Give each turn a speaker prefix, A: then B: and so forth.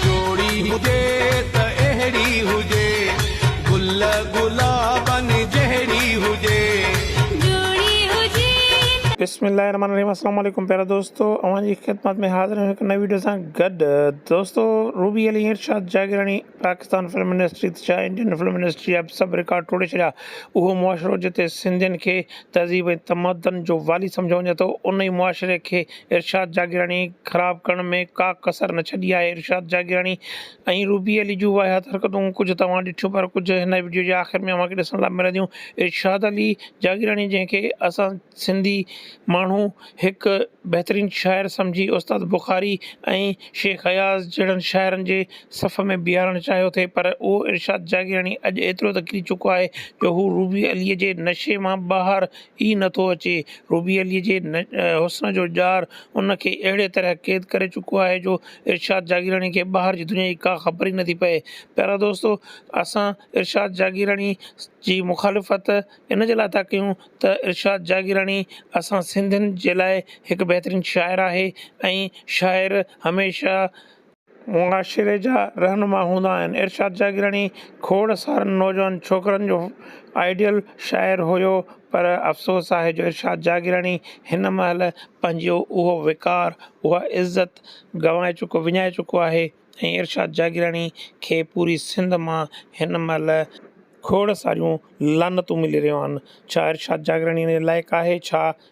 A: جوڙي هجي ته اهڙي هجي گل گلابن جهڙي هجي جوڙي هجي.
B: بسم الله الرحمٰن الرحيم اسلام عليڪم پيارا دوستو اوهان جي خدمت ۾ حاضر آهيون هڪ نئين وڊيو سان گڏ دوستو روبي علي ارشاد جاگيراڻي پاڪستان فلم انڊسٽري ته ڇا انڊين فلم انڊسٽري اب سڀ رڪارڊ ٽوڙي ڇڏيا اهو معاشرو جتي سنڌين کي تهذيب ۽ تمدن جو والي سمجهيو وڃي ٿو ان ئي معاشري کي ارشاد جاگيراڻي خراب ڪرڻ ۾ ڪا ڪسر نه ڇڏي آهي ارشاد جاگيراڻي ۽ روبي علي جون واهيات حرڪتون ڪجهه توهان ڏٺيون پر ڪجهه هن وڊيو جي آخر ۾ اوهان کي ڏسڻ لاء ملنديون ارشاد علي جاگيراڻي جنهن کي اسان سنڌي ماڻهو هڪ بهترين شاعر سمجهي استاد بخاري ۽ شيخ اياز جهڙن شاعرن جي صف ۾ بيهارڻ چاهيو ٿي پر اهو ارشاد جاگيراڻي اڄ ايترو ته ڪري چڪو آهي جو هو روبي علي جي نشي مان ٻاهر ئي نه ٿو اچي. روبي عليء جي حسن جو ڄار ان کي اهڙيء طرح قيد ڪري چڪو آهي جو ارشاد جاگيراڻي کي ٻاهر جي دنيا جي ڪا خبر ئي نه ٿي پئي. پيارا دوستو! اسان ارشاد جاگيراڻي جي مخالفت ان جي لاء ٿا ڪيون ته ارشاد جاگيراڻي اسان سنڌين جي لاء هڪ بهترين شاعر آهي ۽ شاعر هميشه معاشري جا رهنما هوندا آهن. ارشاد جاگيراڻي کوڙ سارن نوجوان ڇوڪرن جو آئيڊيل شاعر هيو پر افسوس آهي جو ارشاد جاگيراڻي هن مهل پنهنجو اهو وقار، اها عزت گنوائي چڪو، وڃائي چڪو آهي ۽ ارشاد جاگيراڻي کي پوري سنڌ مان هن مهل، کوڙ ساريون لعنتون ملي رهيون آهن، ڇا ارشاد جاگيراڻي ان جي لائق آهي ڇا